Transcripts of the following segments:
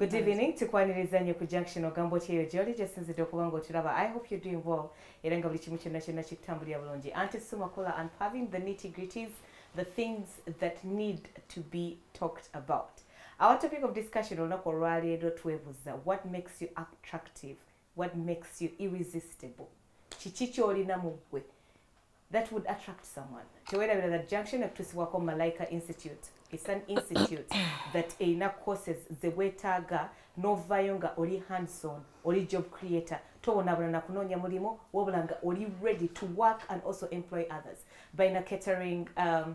Good evening, tukwaniriza nnyo ku junction ogamba otya eyo gyoli gyesinzidde okuba nga otulaba I hope you're doing well era nga buli kimu kyonna kyonna kikutambulira bulungi anti sumakula and having the nitty gritties the things that need to be talked about our topic of discussion olunaku olwaleero twebuza what makes you attractive what makes you irresistible kiki kyolina mu ggwe that would attract someone tewerabira that junction ekutuusibwako malaika institute it's an institute that erina courses zeweetaaga novaayo nga oli handson oli job creator towonabona na kunoonya mulimu wabula nga oli ready to work and also employ others balina catering um,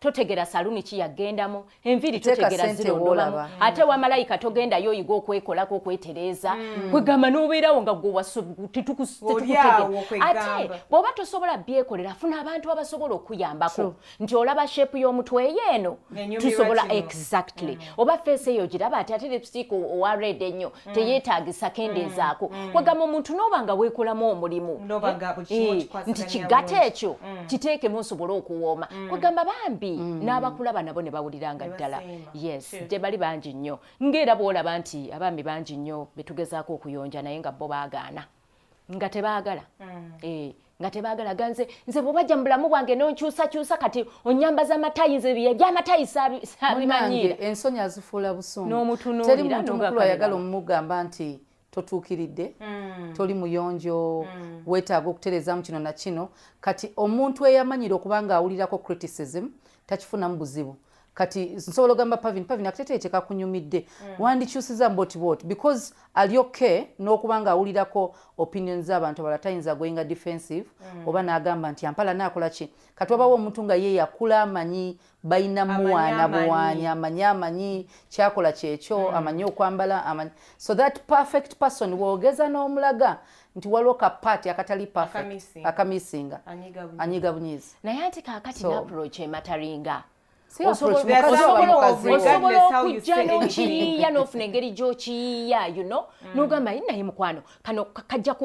totegera saluni ki yagendamu enviri totegera zirondobamu ate wamalayika togendayo oyiga okwekolako okwetereeza mm. kwegamba nobeerawo nga gwewasutetukutegera ate bwoba tosobola byekolera afuna abantu abasobola okuyambako nti olaba shepu y'omutwe eyo eno tusobola exactly mm. oba feesi eyo giraba ati ate lipstick owa red ennyo mm. teyeetaagisa kendeezaako mm. mm. kwegamba omuntu n'oba nga weekolamu omulimu eh, nti kigato ekyo kiteekemu nsobole okuwooma kwegamba bambi n'abakulaba nabo ne bawulira nga ddala yes gye bali bangi nnyo ng'era bw'olaba nti abaami bangi nnyo betugezaako okuyonja naye nga bo baagaana nga tebagala mm. eh, nga tebagala ganze nze bwebajja mu bulamu bwange nonkyusakyusa kati onyambaza amatayi nze byamatayi sabimanyira ensonyi azifuula busungunomutunulteri muntu mukulu ayagala omumugamba nti totuukiridde mm. toli muyonjo mm. wetaaga okutereezamu kino na kino kati omuntu eyamanyira okuba nga awulirako criticism takifunamu buzibu kati nsobola ogamba pavin pavin akateteyi kyekakunyumidde mm. wandikyusiza mboti bot because ali okay n'okuba nga awulirako opinion z'abantu abala tayinza goinga defensive mm. oba n'agamba nti ampala naakola ki kati wabawo omuntu nga ye yakula amanyi balina muwaana buwaanyi amanyi amanyi kyakola kyekyo mm. amanyi okwambala amanyi so that perfect person woogeza n'omulaga nti waliwo ka paati akatali akamisinga anyiga bunyizi naye ati kakati naproach emataringa osobola okujja n'okiyiiya n'ofuna engeri gy'okiyiiya you know mm. n'ogamba yi naye mukwano kano kajja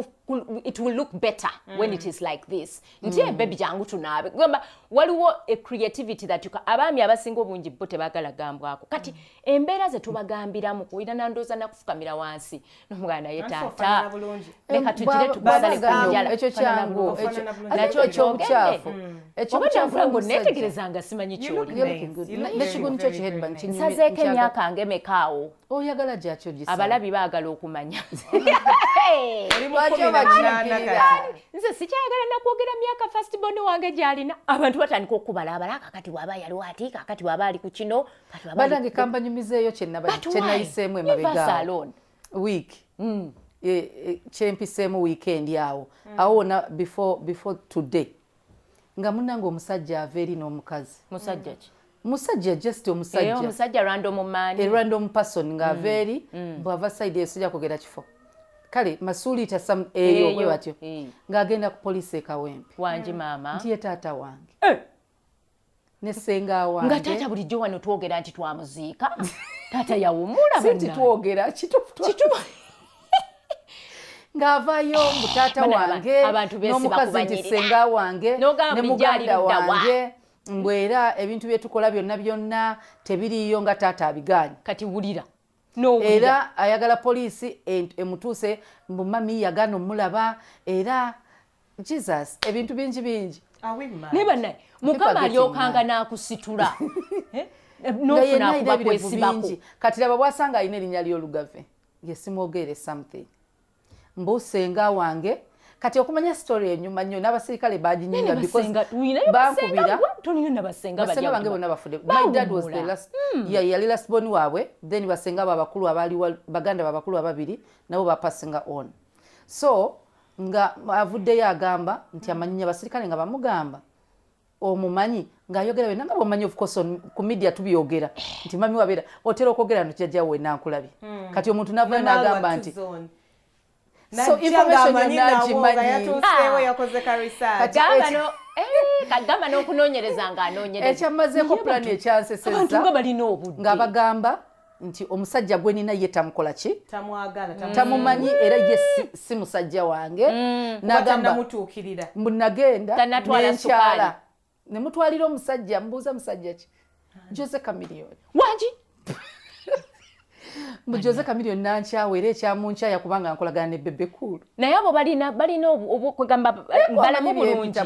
it will look better mm. when it is like this nti mm. Eh, bebi jangu tunaabe gamba waliwo a creativity that you abaami abasinga obungi bo tebagala gambwako kati mm. embeera ze tubagambiramu kuira nandooza nakufukamira wansi nomwana ye taata leka tugire tukusale ku njala ekyo kyangu nakyo ekyobukyafu mm. ekyobukyafula ngo netegereza nga simanyi kyolinekigundu kyo kiheadban nsazeeko emyaka nga emekaawo oyagala gyakyogisa abalabi baagala okumanya nze sikyayagala nakwogera myaka fastbon wange gyalina abantu batandika okukubala abala kakati waba yaliwo ati kakati waba ali ku kino banange kambanyumizeeyo kyenayiseemu emabega week mm. e, e, kyempiseemu wiikendi awo mm. awo wona before today nga munange omusajja ava eri n'omukazi musajja ki musajja just omusajja eh, random person nga ava mm. eri bwava saidi eyo sijja kugera kifo kale masuuliita sam eyo bwe batyo ng'agenda ku poliisi ekawempe wangi maama nti ye taata wange eh! nesenga wange nga taata bulijjo wano twogera nti twamuziika taata yawumula sinti twogera kitufu kitufu ng'avayo mbu taata wange n'omukazi nti senga wange ne muganda wange mbu era ebintu byetukola byonna byonna tebiriiyo nga taata abigaanyi kati wulira era ayagala poliisi emutuse mbu mami yagana omulaba era jesus ebintu bingi bingi naye banaye mukama alyokanga nakusitula eh? eh, nofunakubakwesibako kati laba bwasanga alina erinya lyolugave yesimwogeere something mbu senga wange kati okumanya story enyuma nnyo n'abasirikale baginyinga because bankubira basenga bange bonna bafudde my dad was the last mm. yeah, yali last born waabwe then basenga babakulu abaali baganda babakulu ababiri nabo bapasinga on so nga avuddeyo agamba nti amanyinya basirikale nga bamugamba omumanyi ng'ayogera byonna nga bwomanyi ofcourse ku media tubyogera nti mami wabeera otera okwogera no kijajja we nankulabye hmm. kati omuntu navayo n'agamba nti so information yonna agimanyi kagamba n'okunoonyereza ng'anoonyereza ekyammazeeko pulani ekyanseseza ng'abagamba nti omusajja gwe nina ye tamukola ki tamumanyi era ye si musajja wange mm. nagamba mbu nagenda nenkyala nemutwalira omusajja mbuuza musajja ki jose kamiliyoni wangi mbu jose kamiliyoni nankyawa era ekyamunkyaya kubanga nkolagana ne bebe kuulu naye abo balina balina okwegamba balamu bulungi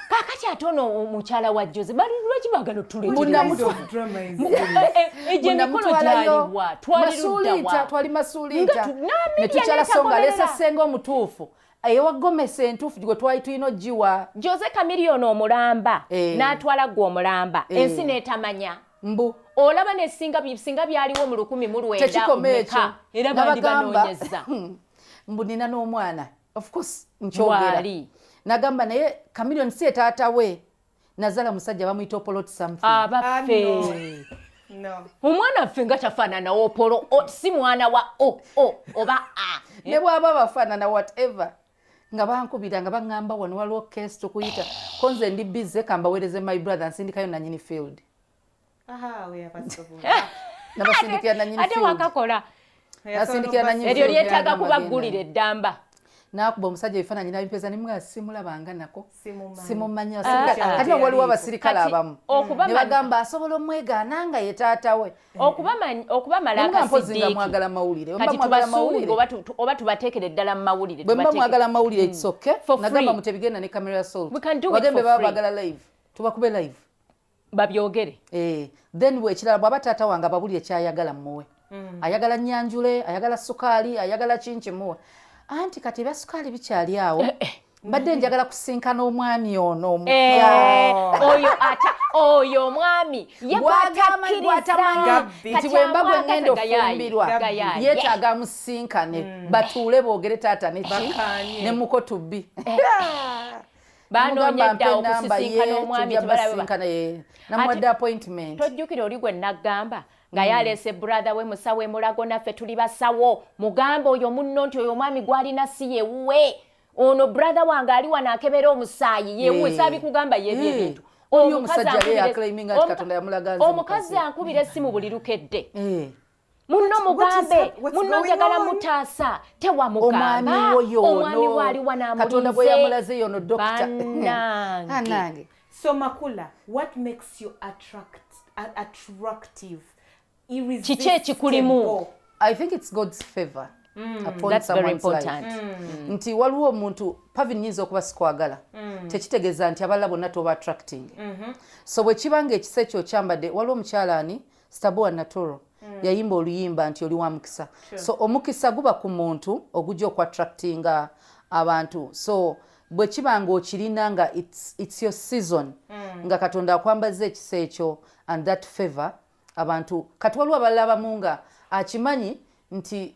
kakati ate ono omukyala wa joze lwaki bagala otuleeegyenekolotwaliruddawanetukyalasoongalesessenga omutuufu eyewa gomesi entuufu gwe twali tulina ogiwa joze kamiliyoni omulamba eh. n'atwala gwe omulamba eh. ensi n'etamanya mbu olaba nesinga byaliwo mu lukumi mu lwenda era bandibanoonyeza mbu nina n'omwana of course nkyogera nagamba naye kamilion si etaata we nazala musajja bamuyita opolot something abaffe ah, no. omwana ffe nga tafaanana opolo si mwana wa o o oba a ne bwaba bafaanana whatever nga bankubira nga baŋŋamba wano waliwo kesi tukuyita konze ndi bize kambaweereze my brother nsindikayo nanyini field ate wakakola eryo lyetaaga kubaggulira eddamba nakuba omusajja ebifaananyi nabipeza ne mwa simulabanga nako simumanya ah. kati waliwo abasirikale abamu ne bagamba asobola omwegaana nga ye taata we okubamalaakamwagala mawulire oba tubateekere ddala mu mawulire bwe muba mwagala mawulire hmm. itsoke nagamba mutebigenda ne camera sol wagembe baba bagala live tubakube live babyogere eh, then ekirala bwaba taata wange ababuli ekyayagala muwe mm. ayagala nyanjule ayagala sukaali ayagala kinki muwe anti kati ebya sukaali bikyali awo eh, eh. mbadde njagala kusinkana omwami ono oyo ata oyo omwami yegwatakirizanti bwemba gwe ngenda ofumbirwa yetaaga amusinkane mm. batuule boogere taata neki ne muko tubbi banoonya edda okusisinkana omwami tebalabasinkana ye namuwadde appointment tojjukira oli gwe naggamba nga yaleese brother we musawo emulago naffe tuli basawo mugamba oyo munno nti oyo omwami gwalina si yewuwe ono brother wange ali wano akebera omusaayi yewuwe saabi kugamba yebyo ebintu omukazi ankubira essimu buli lukedde munno mugambe munno njagala mutaasa tewamugamba omwami waliwa namulinzebanange so makula what makes you attract, attractive kiki ekikulimu i think it's god's favor Mm, mm. nti waliwo omuntu pavi nyinza okuba sikwagala mm. tekitegeeza nti abalala bonna toba attracting mm -hmm. so bwekiba nga ekisa ekyo okyambadde waliwo omukyala ani stabua naturo mm. yayimba oluyimba nti oli wa mukisa sure. so omukisa guba ku muntu ogujja okuattractinga abantu so bwe kiba nga okirina nga it's, it's your season mm. nga katonda akwambaza ekisa ekyo and that favor abantu kati waliwo abalala bamu nga akimanyi nti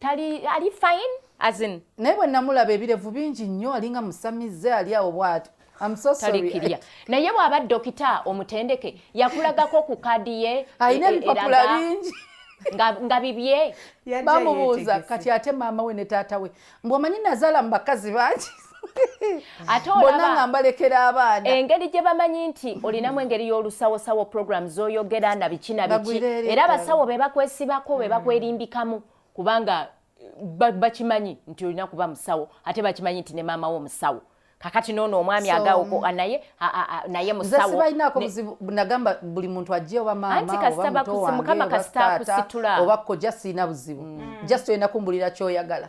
tali ali fine as in naye bwe namulaba ebirevu bingi nnyo alinga musamize ali awo bwati talikirya naye bw'aba dokita omutendeke yakulagako ku kadi ye alina e, e, ebipapula bingi nga bibye bamubuuza kati ate maama we ne taata we mbwomanyi nazaala mu bakazi bangi ate olaba nga mbalekera abaana engeri gye bamanyi nti olinamu engeri y'olusawosawo program z'oyogera na biki na biki era abasawo be bakwesibako be bakwerimbikamu kubanga bakimanyi nti olina kuba musawo ate bakimanyi nti ne maama wo musawo kakati nono omwami agawo naye naye musawo balinaako buzibu nagamba buli muntu ajje oba maamaantikasitabakusimukama kasitakusitula oba kojja sirina buzibu mm. just olina kumbulira kyoyagala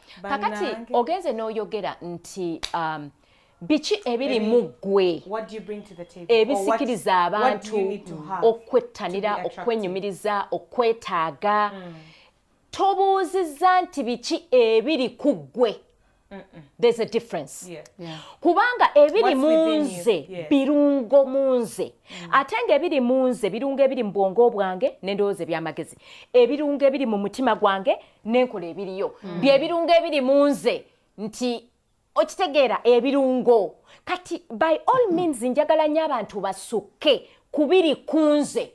kakati ogenze n'oyogera nti um, biki ebiri mu ggwe ebisikiriza abantu okwettanira okwenyumiriza okwetaaga mm. tobuuzizza nti biki ebiri ku ggwe there's a difference yeah. Yeah. kubanga ebiri munze yeah. birungo munze mm. ate nga ebiri munze birungo ebiri mu bwongo bwange n'endowooza eby'amagezi ebirungo ebiri mu mutima gwange nenkola ebiriyo mm. byebirungo ebiri mu nze nti okitegeera ebirungo kati by all mm-hmm. means njagala nyo abantu basukke kubiri kunze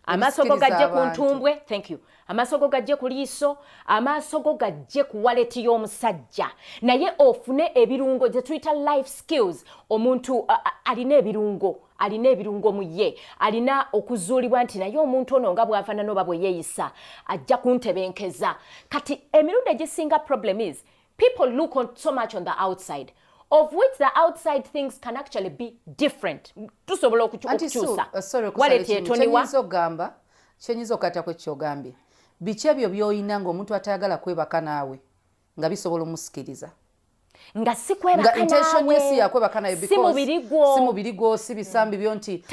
amaaso go gajje ku ntumbwe thank you amaaso go gajje ku liiso amaaso go gajje ku waleti y'omusajja naye ofune ebirungo gye tuyita life skills omuntu alina ebirungo alina ebirungo mu ye alina okuzuulibwa nti naye omuntu ono nga bwafaanana oba bwe yeeyisa ajja kuntebenkeza kati emirundi egisinga problem is people look on so much on the outside of which the outside things can actually be different tusobola okukyusa uh, waletyetoniwa ogamba kyenyinza okukata kwekyogambye biki ebyo byoyina ngaomuntu atayagala kwebaka naawe nga bisobola omusikiriza nga sikwebakanawesimubiri gwo si bisambi byo nti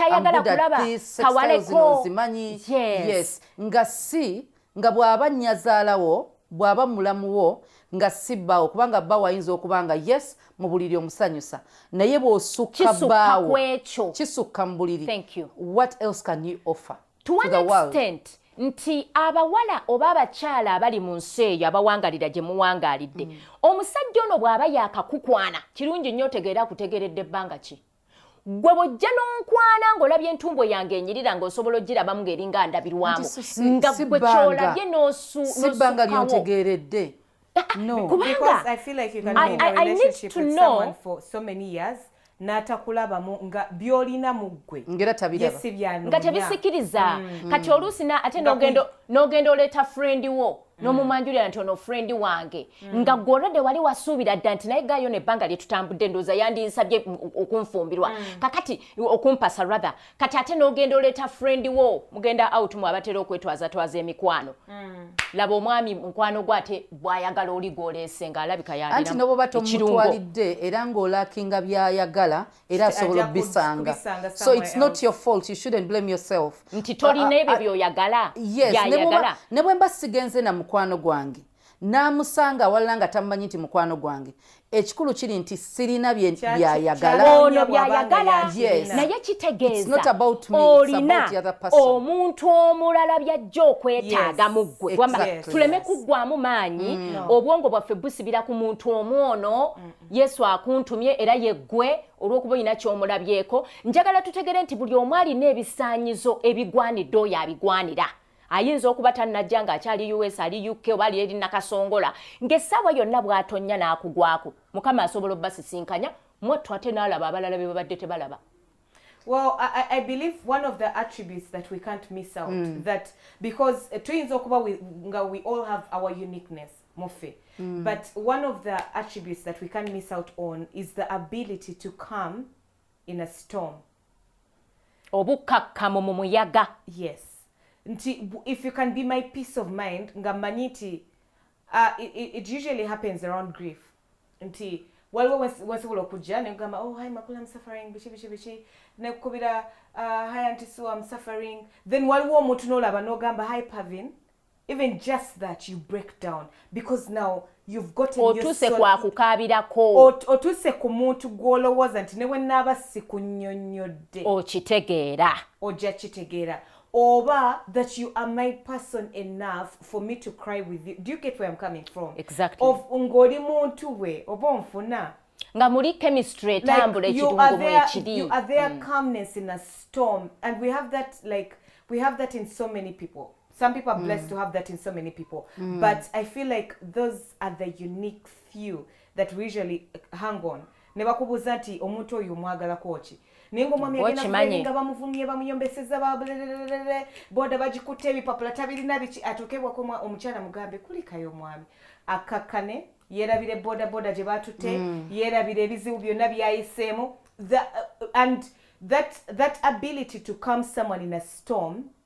zimanyi yes nga si nga bw'aba nyazaalawo bw'aba mulamuwo nga si bbaawo kubanga bbaawo ayinza okuba nga yes mu buliri omusanyusa naye bw'osukka bbaawo kisukka mu buliri what else can you offer to one extent nti abawala oba abakyala abali mu nsi eyo abawangalira gye muwangalidde mm. omusajja ono bw'aba yakakukwana kirungi nnyo otegeera akutegeredde ebbanga ki gwe bwojja n'onkwana ng'olabye entumbwe yange enyirira ng'osobola ogirabamu ng'eringa ndabirwamu nga gwe kyolabye n'osukawo no kubanga because i feel like you can be in a relationship with someone for so many years n'atakulabamu nga byolina mu ggwe nga tebisikiriza mm. kati oluusi ate n'ogenda oleeta frendi wo mm. n'omumanjulira nti ono frendi wange mm. nga gwolode wali wasuubira dda nti naye gayo nebbanga lyetutambudde ndooza yandinsabye okunfumbirwa kakati okumpasa rather kati ate nogenda oleeta friend wo mugenda out mu abatera okwetwaza twaza emikwano mm. laba omwami mukwano gwo ate bwayagala oli gwoleese nga alabika yanti noboba tomutwalidde era ng'olakinga byayagala era asobola obisanga so it's not your fault you shouldn't blame yourself nti tolina ah, ah, ebyo ah, byoyagala yes ne bwemba sigenze na mukwano gwange n'amusanga awalala nga tamumanyi nti mukwano gwange ekikulu kiri nti sirina byayagalaono byayagala naye kitegeeza olina omuntu omulala byajja okwetaaga mu ggwe tuleme kuggwamu maanyi mm. obwongo bwaffe busibira ku muntu omu ono yesu akuntumye era yeggwe olw'okuba olina ky'omulabyeko njagala tutegere nti buli omu alina ebisaanyizo ebigwanidde oyo abigwanira ayinza okuba tannajja ng'akyali us ali uk oba ali eri nakasongola ng'essaawa yonna bw'atonnya n'akugwako mukama asobola obbasisinkanya mwattu ate n'alaba abalala be babadde tebalaba Well, I, I believe one of the attributes that we can't miss out mm. that because uh, twins okuba we, we all have our uniqueness mufe mm. but one of the attributes that we can't miss out on is the ability to come in a storm obukakkamu mu muyaga yes nti if you can be my peace of mind nga mmanyi nti uh, it, it usually happens around grief nti waliwo wensobola okujja negamba oh hi makula am suffering biki biki biki nekukubira uh, hi anti sue am suffering then waliwo omuntu nolaba nogamba hi pavin even just that you break down because now you've got otuse kwa kukabirako otuse ku muntu gwolowooza nti ne wenaaba sikunyonnyodde okitegeera ojja kitegeera oba that you are my person enough for me to cry with you do you get where i'm coming from exactly of ng'oli muntu we oba onfuna nga muli chemistry etambula like, ekirungo mwekiri you are there mm. calmness in a storm and we have that like we have that in so many people some people are blessed mm. to have that in so many people mm. but i feel like those are the unique few that we usually hang on ne bakubuuza nti omuntu oyo omwagalako ki naye ngaomwami agendainga bamuvumye bamuyombeseza babulelelelele boda bagikutte ebipapula tabirina biki atuukebwako omukyala mugambe kulikayo omwami akakkane yerabire boda boda gye batutte mm. yerabire ebizibu byonna byayiseemu uh, and that, that ability to come someone in a storm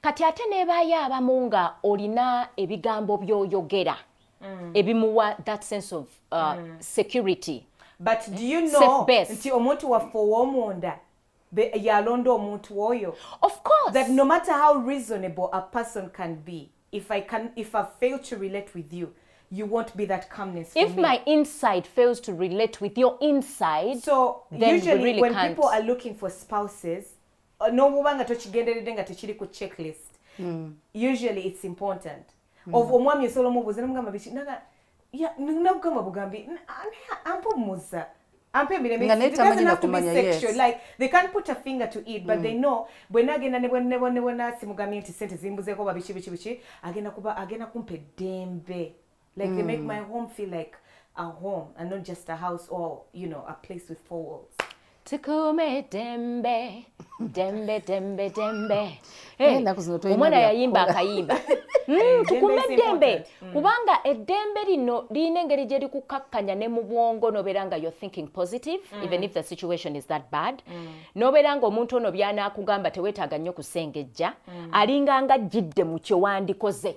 kati ate nebaayo abamu nga olina ebigambo byoyogera mm. ebimuwa that sense of uh, mm. security but do you know nti omuntu waffe ow'omunda yalonda omuntu oyo of course that no matter how reasonable a person can be if i can if i fail to relate with you you won't be that calmness for if me. my inside fails to relate with your inside so then usually we really when can't. people are looking for spouses n'obuba nga tokigenderedde nga tekiri ku checklist hmm. usually it's important hmm. of omwami osobola omubuuza nomugamba biki naga nagugamba bugambi ampa omuza ampa emirembebwenagenda nebwenasimugamye nti sente zimbuzeeko babiki biki biki agenda kumpa eddembe Like mm. they make mm. my home feel like a home and not just a house or, you know, a place with four walls. tukume dembe dembe dembe dembe omwana yayimba akayimba hmm, tukume dembe hmm. kubanga eddembe lino lirina engeri gye likukakkanya ne mu bwongo nobeera nga you're thinking positive hmm. even if the situation is that bad nobeera nga omuntu ono byanaakugamba teweetaaga nnyo kusengejja alinganga ajjidde mu kyewandikoze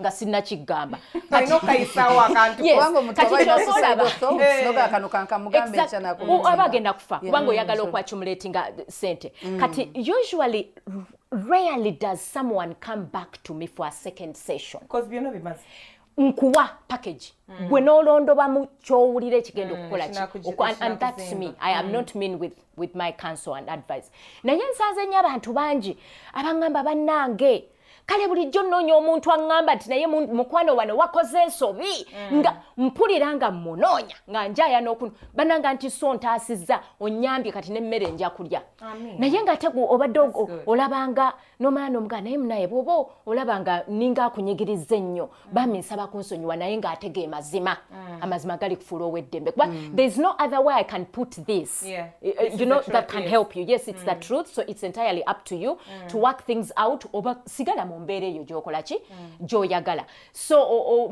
nga sinnakiggamba aba agenda kufa kubanga oyagala mm. okwacumulatinga sente mm. kati usually rarely does someone come back to me for a second session nkuwa package mm. gwe nolondobamu kyowulira ekigenda mm, okukola ki and that's me i am mm. not mean with, with my council and advice naye nsanze nyo abantu bangi abangamba bannange kale bulijjo nnoonya omuntu aŋŋamba nti naye mukwano wano wakoze ensobi mm. nga mpulira nga mmunoonya nga njaya n'okunu bananga nti so ntaasizza onnyambye kati n'emmere nja kulya naye nga ate obadde olabanga n'omala n'omugaa naye munaye bw'oba olabanga ninga akunyigiriza ennyo Mm. bambi nsaba kunsonyiwa naye ng'ate ge mazima mm. amazima gali kufuula ow'eddembe kuba mm. there is no other way i can put this eh, eh, you know that can help you yes it's the truth so it's entirely up to you to work things out oba sigala mu mbeera eyo gyokola ki gyoyagala so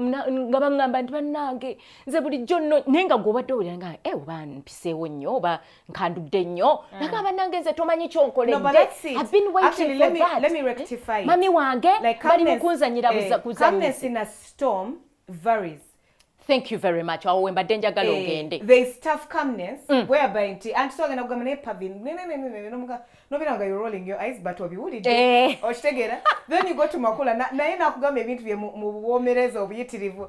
nga baŋŋamba nti bannange nze bulijjo nno naye nga gw'obadde owulira nga e oba mpiseewo nnyo oba nkandudde nnyo mm. naga banange nze tomanyi kyonkoleddeabinwaitingmami eh? wange bali mukunzanyira eh, varies thank you very much awo wembadde njagala eh, ogende there is tough calmness mm. whereby nti anti so agenda kugamba naye pavin nobera nga you're rolling your eyes but obiwulidde eh. okitegeera then you go to makula naye nakugamba ebintu bye mu buwomereza obuyitirivu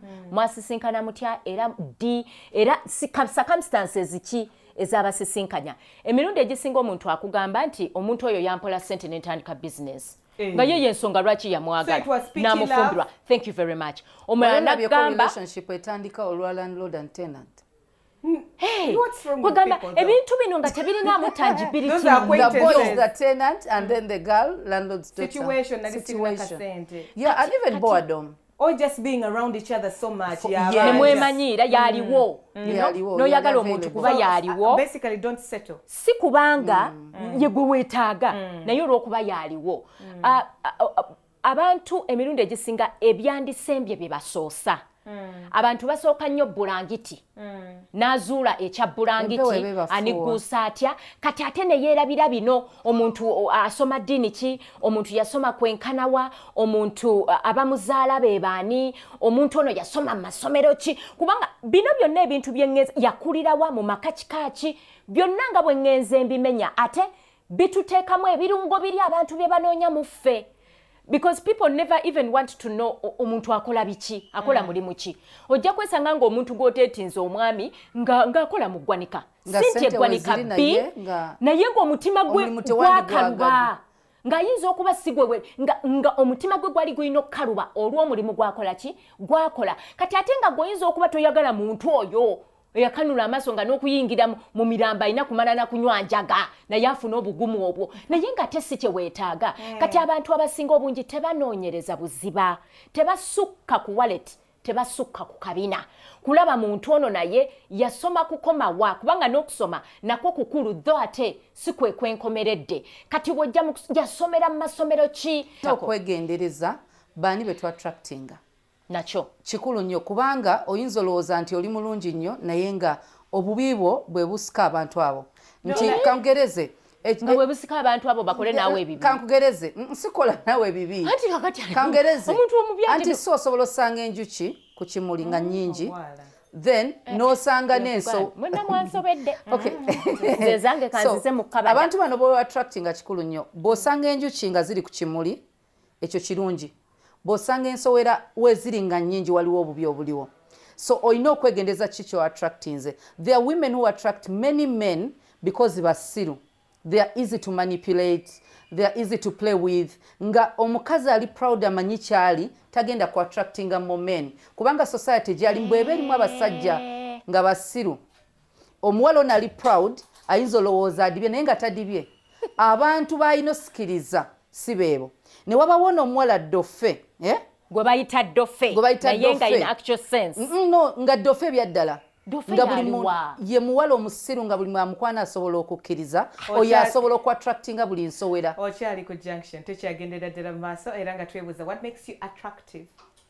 hmm. mwasisinkana mutya era ddi era circumstances ki ezabasisinkanya emirundi egisinga omuntu akugamba nti omuntu oyo yampola sente nentandika bizinesi eh. nga ye yensonga lwaki yamwagala namufumbirwa thank you very much omulala nagamba etandika olwa landlord and tenant kwegamba ebintu bino nga tebirinaamu tangibilityogeddeko or just being around each other so much yeah, yeah. nemwemanyiira yaliwo mm. mm. noyagala omuntu kuba yaliwo uh, si kubanga mm. yegwe wetaaga naye olwokuba yaliwo uh, uh, abantu emirundi egisinga ebyandisembye bye basoosa hmm. abantu basooka nnyo bulangiti hmm. n'azuula ekya bulangiti anigguusa atya kati ate ne yeerabira bino omuntu asoma ddiini ki omuntu yasoma kwenkanawa omuntu abamuzaala be baani omuntu ono yasoma mu masomero ki kubanga bino byonna ebintu bye yakulirawa mu maka kika ki byonna nga bwe ŋŋenze mbimenya ate bituteekamu ebirungo biri abantu bye banoonya mu ffe because people never even want to know omuntu akola biki akola mm. mulimu ki ojja kwesanga ng'omuntu gw'oteetinza omwami ng'akola mu ggwanika sinti eggwanika bbi naye ng'omutima gwe gwakaluba ng'ayinza okuba sigwewe nga omutima gwe gwali gulina okukaluba olw'omulimu gwakola ki gwakola kati ate nga gweoyinza okuba toyagala muntu oyo eyakanula amaaso nga n'okuyingira mu mirambo alina kumala na kunywa njaga naye afuna obugumu obwo naye nga ate si kyeweetaaga hmm. kati abantu abasinga obungi tebanoonyereza buziba tebasukka ku wallet tebasukka ku kabina kulaba muntu ono naye yasoma kukomawa kubanga n'okusoma nakwo kukulu dho ate si kwe kwenkomeredde kati wojja yasomera mu masomero ki okwegendereza baani be twattractinga nakyo kikulu nnyo kubanga oyinza olowooza nti oli mulungi nnyo naye nga obubi bwo bwe busika abantu abo nti kangereze nga webusika abantu abo bakole nawe ebibi kankugereze nsikola nawe ebibi kangereze anti si osobola osanga enjuki ku kimuli nga nyingi oh, then eh, eh, nosanga eh, nenso abantu bano boattractinga kikulu nnyo bwosanga enjuki nga ziri ku kimuli ekyo kirungi bwosanga ensowera weziri nga nyingi waliwo obubi obuliwo so olina okwegendeza ki kyo attractinze there are women who attract many men because basiru they are easy to manipulate they are easy to play with nga omukazi ali proud amanyi kyali tagenda ku attractinga more men kubanga society gyali mbweba erimu abasajja nga basiru omuwala ono ali proud ayinza olowooza adibye naye nga tadibye abantu balina osikiriza si beebo ne wabawo noomuwala dofe eh? gwe bayita dofe naye nga in actual sense no nga dofe ebyaddala nga buli ye muwala omusiru nga buli mwamukwana asobola okukkiriza oyo asobola okuattractinga buli nsowera okyali ku junction tukyagendera ddala mu maaso era nga twebuuza what makes you attractive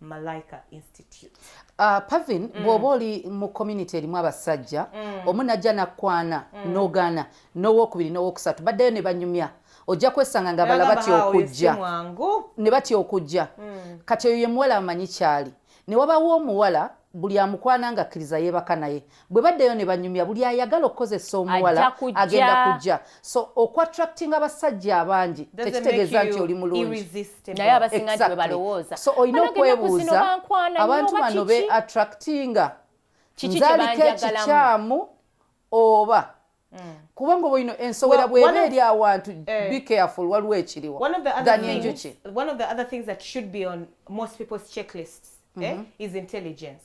Malaika Institute. Uh, Pavin mm. bwoba oli mu community erimu abasajja mm. omu najja nakwana mm. nogana nowokubiri nowokusatu baddayo ne banyumya ojja kwesanga nga bala batya okujja ne batya okujja mm. kati oyo yemuwala amanyi kyali ne wabawo omuwala buli amukwana nga akkiriza yeebaka naye bwe baddeyo ne banyumya buli ayagala okukozesa omuwala agenda kujja so okuattractinga abasajja abangi tekitegeeza nti oli mulungiso olina okwebuuza abantu bano be attractinga nzaliko ekikyamu oba Mm. kubanga oba ino ensowera bweba eri awantu eh. be careful waliwo ekiriwo than enjuki one of the other things that should be on most people's checklists eh, mm-hmm. is intelligence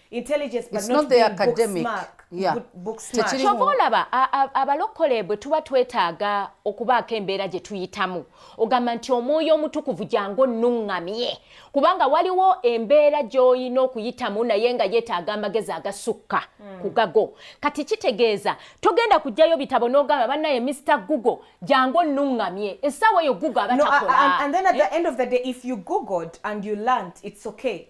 intelligence but not, the academic kyova olaba abalokole bwe tuba twetaaga okubaako embeera gye tuyitamu ogamba nti omwoyo omutukuvu gyangu onnuŋŋamye kubanga waliwo embeera gy'olina okuyitamu naye nga yeetaaga amagezi agasukka hmm. ku gago kati kitegeeza togenda kujjayo bitabo n'ogamba bannaye mr google gyangu onnuŋŋamye essaawa eyo google aba takola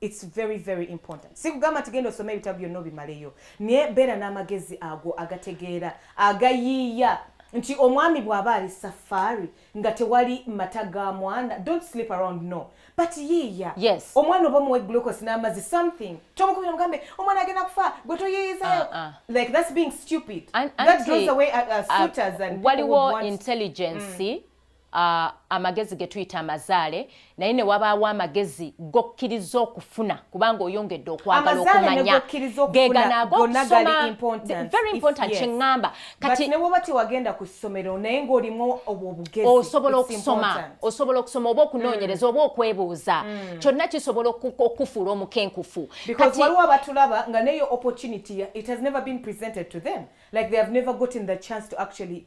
It's very very important. Sikugamba nti genda osome ebitabo byonna obimaleyo, naye beera n'amagezi ago agategeera agayiiya nti omwami bw'aba ali safari nga tewali mata ga mwana don't sleep around no but yiiya yes. omwana oba omuwe glucose n'amazzi something tomukubira mugambe omwana agenda kufa gwe toyiyizayo uh, ah, uh. Ah. like that's being stupid An that draws away uh, uh, suitors and waliwo intelligence mm. uh, amagezi getuyita amazaale naye ne wabaawo amagezi gokkiriza okufuna kubanga oyongedde okwagala okumanya geganagokyeamba osobola okusoma osobola okusoma oba okunoonyereza mm. oba okwebuuza mm. kyonna kisobola okukufuula omukenkufu waliwo abatulaba nga neyo opportunity it has never been presented to them like they have never gotten the chance to actually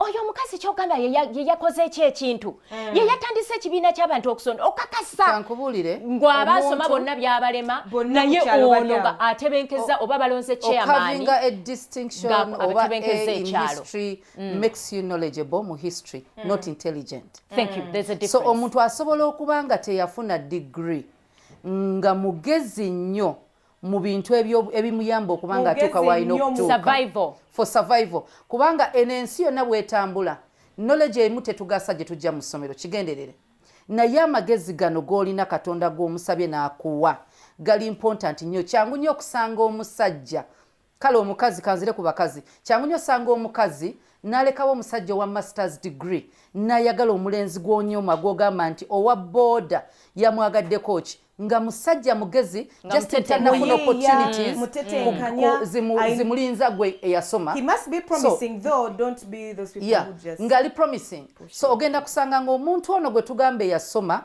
oyo omukazi kyogamba yeyakoze ekyo ekintu hmm. yeyatandise ekibiina kyabantu okusonda okakasa ngwaba asoma bonna byabalema naye ono nga atebenkeza oba balonze chairmanabakebekeza ekyalo so omuntu asobola okuba nga teyafuna digiri nga mugezi nnyo mu bintu ebimuyamba okuba nga atuuka waalina okutuuka for survival kubanga eno ensi yonna bwetambula knowledge emu tetugasa gye tujja mu ssomero kigenderere naye amagezi gano g'olina katonda gw'omusabye n'akuwa gali mpontanti nnyo kyangu nnyo okusanga omusajja Kale omukazi kanzire ku bakazi kyangu nyo osanga omukazi nalekawo omusajja owa masters degree nayagala omulenzi gwonyoma gwogamba nti owa boda yamwagaddeko ki nga musajja mugezi just tanafuna opportunities zimulinza gwe eyasoma ngali promising so ogenda kusanga nga omuntu ono gwe tugamba eyasoma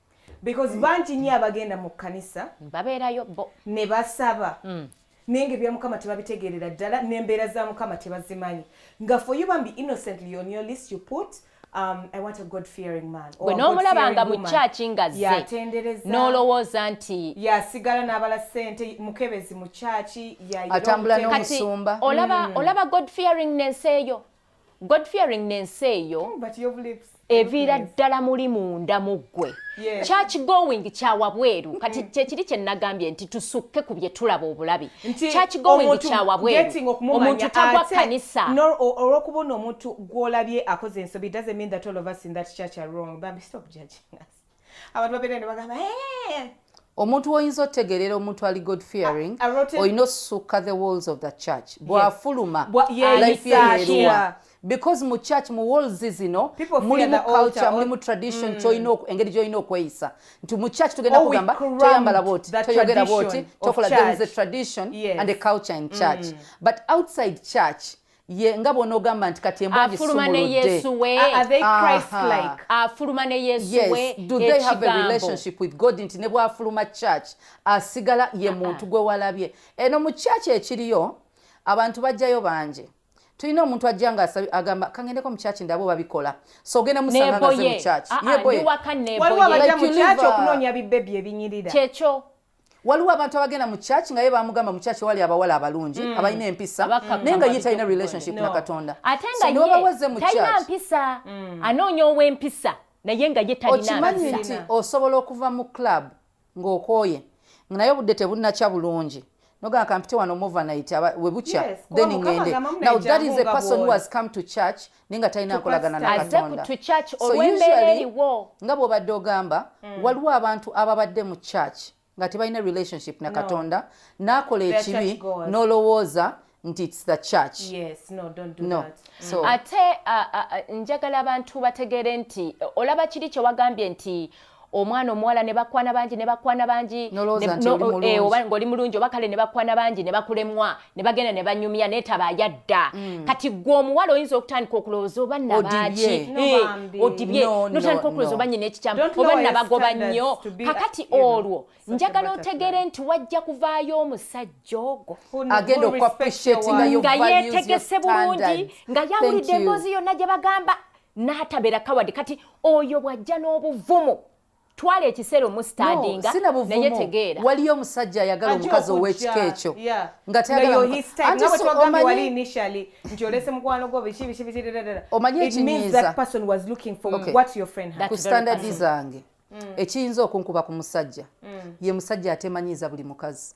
because bangi nyo abagenda mu kkanisa babeerayo bo ne basaba mm. naye nga ebya mukama tebabitegeerera ddala n'embeera za mukama tebazimanyi nga for you bambi innocently on your list you put Um, I want a God fearing man. Gwe n'omulaba nga mu kyaki nga zze n'olowooza nti yasigala n'abala ssente mukebezi mu kyaki atambula n'omusumba olaba mm. olaba God fearing n'ensi eyo god fearing nensi eyo oh, eviira ddala muli munda mu ggwe church going kyawa bweru mm-hmm. kati kyekiri kye nagambye nti tusukke ku bye tulaba obulabi church going kyawa bweru omuntu tagwa kanisa olwokuba ono omuntu gwolabye akoze ensobi doesn't mean that all of us in that church are wrong but stop judging us abantu babeera ne bagamba omuntu woyinza otegerera omuntu ali god fearing olina osusukka the walls of the church bwafuluma life yeeruwa because mu church mu walls zino mulimu culture mulimu tradition mm. kyolina engeri gyolina okweyisa nti mu church tugenda oh, kugamba toyambala bwoti toyogera bwoti tokola there is a tradition and a culture in church mm. but outside church ye nga bwonogamba nti kati embwaafuluma ne yesu we afuluma ne yesu we do they have a relationship with god nti ne bwafuluma church asigala ye muntu gwe walabye eno mu church ekiriyo abantu bajjayo bangi tulina omuntu ajja nga agamba kangendeko mukyaki ndaba obabikola so ogenda musangaze mukyaki yeboyewaliwo abajja mukyaki okunoonya bibebi ebinyirira kyekyo waliwo abantu abagenda mu church nga ye bamugamba mu church wali abawala abalungi mm. abalina empisa naye nga ye talina relationship no. na katonda ate nga so, yebaweze mu church mpisa mm. anoonya ow'empisa naye nga ye talinaokimanyi nti osobola okuva mu club ng'okooye naye obudde tebunnakya bulungi nogamba kampite wano movanayiti webukya yes, then ngende now that is a person who has come to church naye nga talina nkolagana na katonda nga bw'obadde ogamba mm. waliwo abantu ababadde mu church nga tebalina relationship na katonda n'akola ekibi n'olowooza nti its the church mm. ate njagala abantu bategeere nti olaba kiri kyewagambye nti omwana omuwala ne bakwana bangi ne bakwana bangi eh, oba ng'oli mulungi oba kale ne bakwana bangi ne bakulemwa ne bagenda ne banyumya naye taba yadda mm. kati gwe omuwala oyinza okutandika okulowooza oba nabaaki eh, odibye notandika okulowooza oba nyina ekikyamu oba nabagoba nnyo kakati olwo njagala otegere nti wajja kuvaayo omusajja ogwo nga yetegese bulungi nga yawulidde emboozi yonna gye bagamba n'atabera kawadi kati oyo bw'ajja n'obuvumu twala ekiseera omusitandinga naye tegeera waliyo omusajja ayagala omukazi ow'ekika ekyo nga tayagalaomanyi ekinyiizaku sitandadi zange mm. ekiyinza okunkuba ku musajja mm. ye musajja atemanyiiza buli mukazi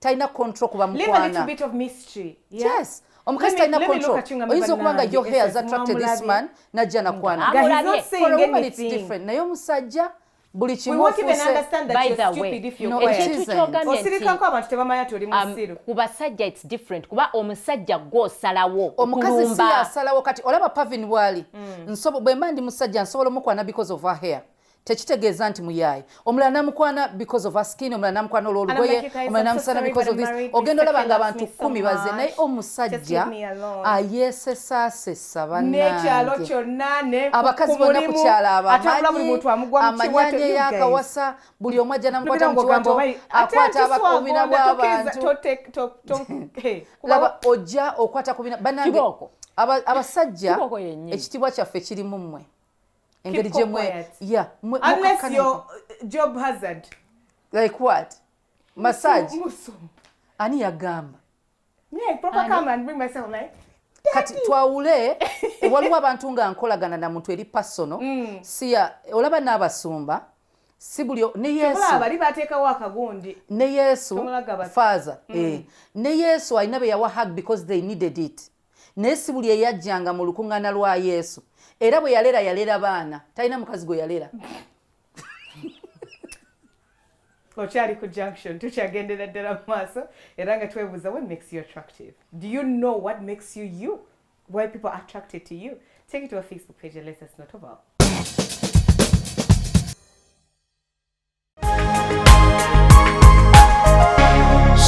talina control kuba mukwana yes omukazi talina control oyinza okuba nga your hair has attracted this man najja nakwana for a woman it's different naye omusajja buli kimu osirikako abantu tebamanya toli um, musiru ku basajja its different kuba omusajja gwosalawo omukazi si asalawo kati olaba pavin bwali mm. bwemba ndi musajja nsobola omukwana because of her hair tekitegeeza nti muyaaye omulala namukwana because of askin omulala namukwana olwolugoye omulala namusana because of this ogenda olaba nga abantu kumi baze naye omusajja ayesesaasesa banangeabakazi bona kukyala abamanyi amanyanya eyakawasa buli omu ajja namukwata mukiwato akwata abakubina bwabantu laba ojja okwata kubina banange abasajja ekitibwa kyaffe kirimu mmwe engeri gyemwe yeah unless your uh, job hazard like what massage ani yagamba yeah proper come and bring myself like kati twawule waliwo abantu nga nkolagana na muntu eri pasono mm. siya olaba n'abasumba si buli ne yesu bali bateekawo akagundi ne yesu faaza mm. eh. ne yesu alina be yawa hug because they needed it naye si buli eyajjanga mu lukuŋŋaana lwa yesu era bwe yalera yalera baana talina mukazi gwe yalera okyali ku junction tukyagendera ddala mu maaso era nga twebuuza what makes you attractive do you know what makes you you why people are attracted to you take it to our facebook page and let us know about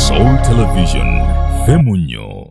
Soul Television, Femunyo.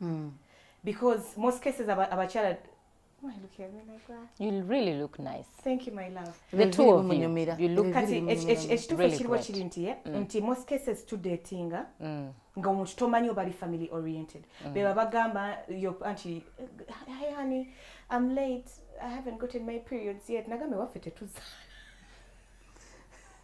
mm. because most cases abakyala ekituufu ekiriwo kiri nti eh, mm. nti most cases tudatinga mm. nga omuntu tomanyi obali family oriented mm. beba bagamba anti hi honey i'm late i haven't gotten my periods yet nagambe waffe tetuzaala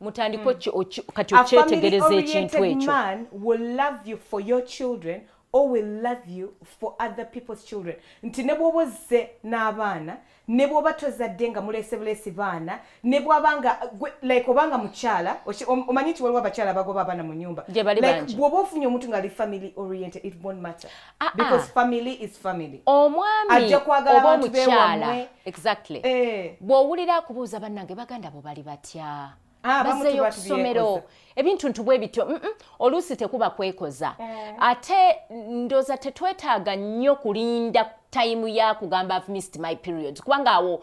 mutandika hmm. kati okyetegereza ekintu ekyo or will love you for other people's children nti ne bwoba ozze n'abaana ne bwoba tozadde nga mulese bulesi baana ne bwaba nga like obanga mukyala omanyi nti waliwo abakyala bagoba abaana mu nyumba bwoba ofunye omuntu nga ali family oriented it won't matter Ah, ah. because family is family omwami oba omukyala exactly eh. bw'owulira akubuuza bannange baganda bo bali batya ah, bazeyo okusomero ebintu ntu bwe bityo mm -mm, oluusi tekuba kwekoza eh. ate ndoza tetwetaaga nnyo kulinda tayimu ya kugamba mist my period kubanga awo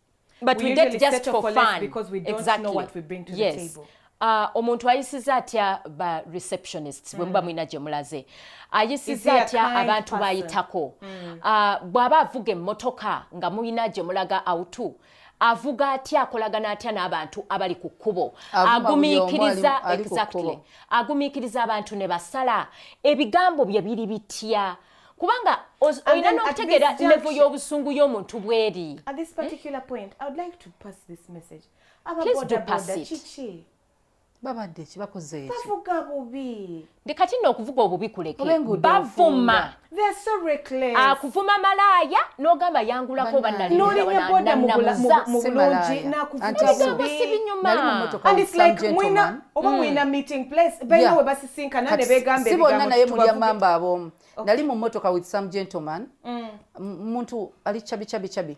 but we, we date just for, for fun because we don't exactly. know what we bring to yes. the table Uh, omuntu ayisiza atya ba receptionists bwe muba mm. mulina gye mulaze ayisiza atya abantu bayitako mm. uh, bw'aba avuga emmotoka nga mulina gye mulaga awutu avuga atya akolagana atya n'abantu abali ku kkubo agumiikiriza exactly agumiikiriza abantu ne basala ebigambo bye biri bitya kubanga olina n'okutegeera levo y'obusungu y'omuntu bweri babadde ekibakozeekibavuga bubi ndi kati nno okuvuga obubi kuleke bavuma akuvuma ah, malaaya n'ogamba yangulako banalinabodamubulanakuvugasibinyuma oba hmm. mulina meeting place balina we basisinkana ne begamba si bonna naye mulya mamba aboomu nali mu motoka with some gentleman hmm. muntu ali chabi chabi chabi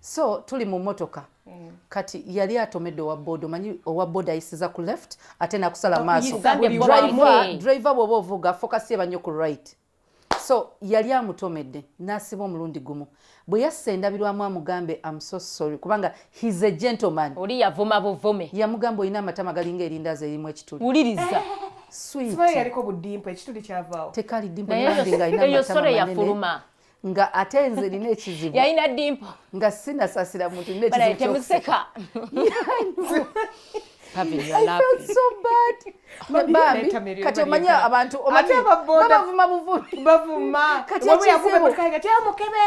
so tuli mu motoka hmm. kati yali atomedde owa boda omanyi owa boda ayisiza ku left ate nakusala oh, maaso driver bwoba ovuga focus yeba nnyo ku right so yali amutomedde n'asiba omulundi gumu bwe yassa endabirwamu amugambe am so sorry kubanga he's a gentleman oli yavuma buvume yamugamba olina amatama galinga erindaazi erimu ekituli wuliriza yaliko budimpa ekituli kyavaawo tekali dimpa nga alina amatama manene nga ate nze nina ekizibu yalina dimpo nga sinasasira muntu nina ekizibu kati omanyi abantu bavuma buvumiatyamukebe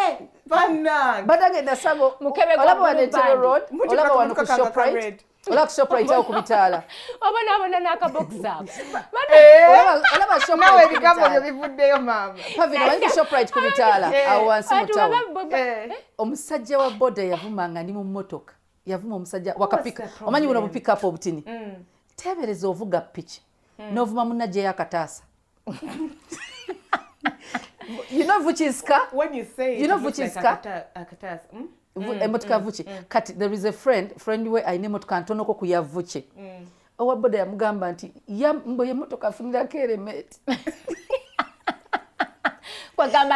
badagenda sabo olaba wanetero road olaba wano ku shoprite ola kusoprite awo kubitaala obonaabona nakaboxaolaba ebigambo byo bivuddeyo maama pavin omanyi kusoprite kubitaala awo wansi mutawo omusajja wa boda yavumanga ndi mu mmotoka yavuma omusajja wakapika omanyi buno bupikapu obutini mm. teebereza ovuga piki mm. novuma munna gyeyo akataasa emotoka vuki kati there is a friend friend we alina emotoka ntonoko ku yavuki mm. owa boda yamugamba nti mbo yemotoka afunirako eremeti kwagamba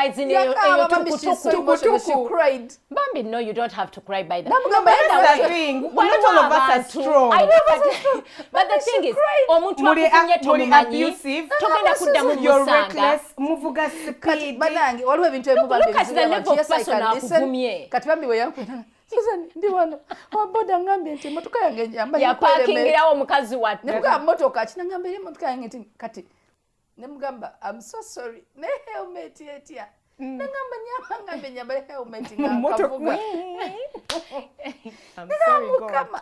bambi no you don't have to cry by that omuntu akufunye tomumanyi togenda kuddamu musanga muvuga speed banange waliwo ebintu ebimu bambi kati bambi weyakwera Susan ndi wano owaboda ngambye nti emotoka yange njambayapaakingirawo mukazi wate nemugaa motoka kina ngamba era emotoka yange nti kati nemugamba am so sorry ne helmet etya mm. nagamba nyamba ngambe nyambale helmet ngakavuga ngamukama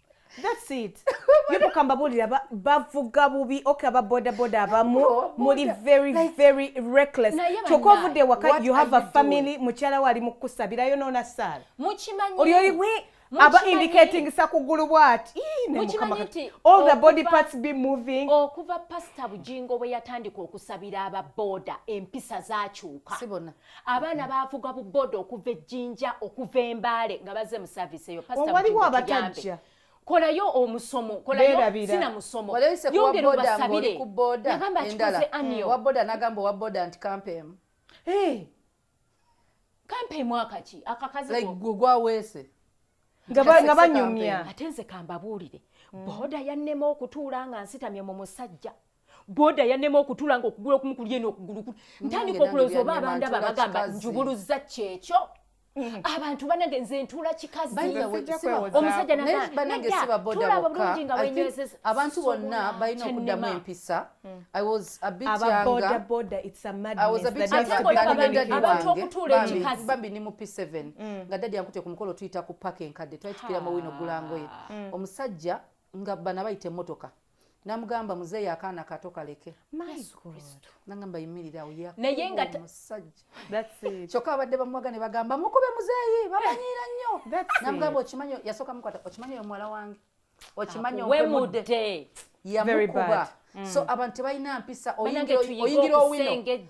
That's it. Yepuka mbabuulira ba- bavuga bubi okay aba bodaboda abamu Bo- muli boda, very like- very reckless Naye kyokka bannange, ovudde waka what you have are a you family mukyala we ali mu kukusabirayo noona saala mukimanyi oli oli we Mukimanyi- aba indicating sakugulu bwati Ii, ne Mukimanyi Mukama kati. nti all the body okuva- Oh. parts be moving okuva pasita bujingo bwe yatandika okusabira aba boda empisa zakyuka si bona abaana baavuga bu boda okuva ejjinja okuva embaale nga bazze mu saavisi eyo waliwo abatajja kolayo omusomo kolayo sina musomo yongera obasabire nagamba akikoze aniyo wa boda nagamba owa boda nti kampemu kampemu akaki akakazi gwaweese nga banyumya ate nze kambabuulire boda yannema okutuula nga nsitamye mu musajja boda yanema okutula nga okugula okumu kuli eno okugulu kuli ntandika okuloza oba abandaba bagamba njubuluza kyekyo Mm. abantu banange nze ntuula kikaziomsajja nagaabulungi nga wenyezeza abantu bonna balina okuddamu empisa mm. bambi ni mu p7 mm. nga dadi yankutye ku mukolo tuyita ku paka enkadde twali tukira mu wino gulangoye omusajja nga bana bayita emotoka namugamba muzeeyi akaana kato kaleke nagamba yimirira naye nga omusajja kyokka abadde bamuwaga ne bagamba mukube muzeeyi bamanyiira nnyo namugamba okimanyi yasooka mukwata okimanyi oyo muwala wange okimanyi okwemudde yamukuba mm. so abantu tebalina mpisa oyingira owino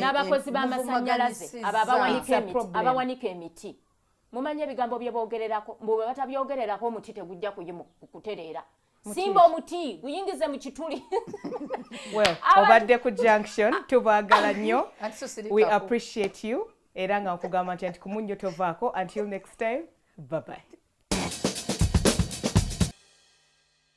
n'abakozi b'amasannyalaze abo abawanika emiti mumanye ebigambo bye boogererako mbu bwe batabyogererako omuti tegujja kutereera simba omuti guyingize mu kituli obadde ku junction ah. tubagala nnyo we appreciate you era nga nkugamba nti anti kumunnyo tovaako until next time babayi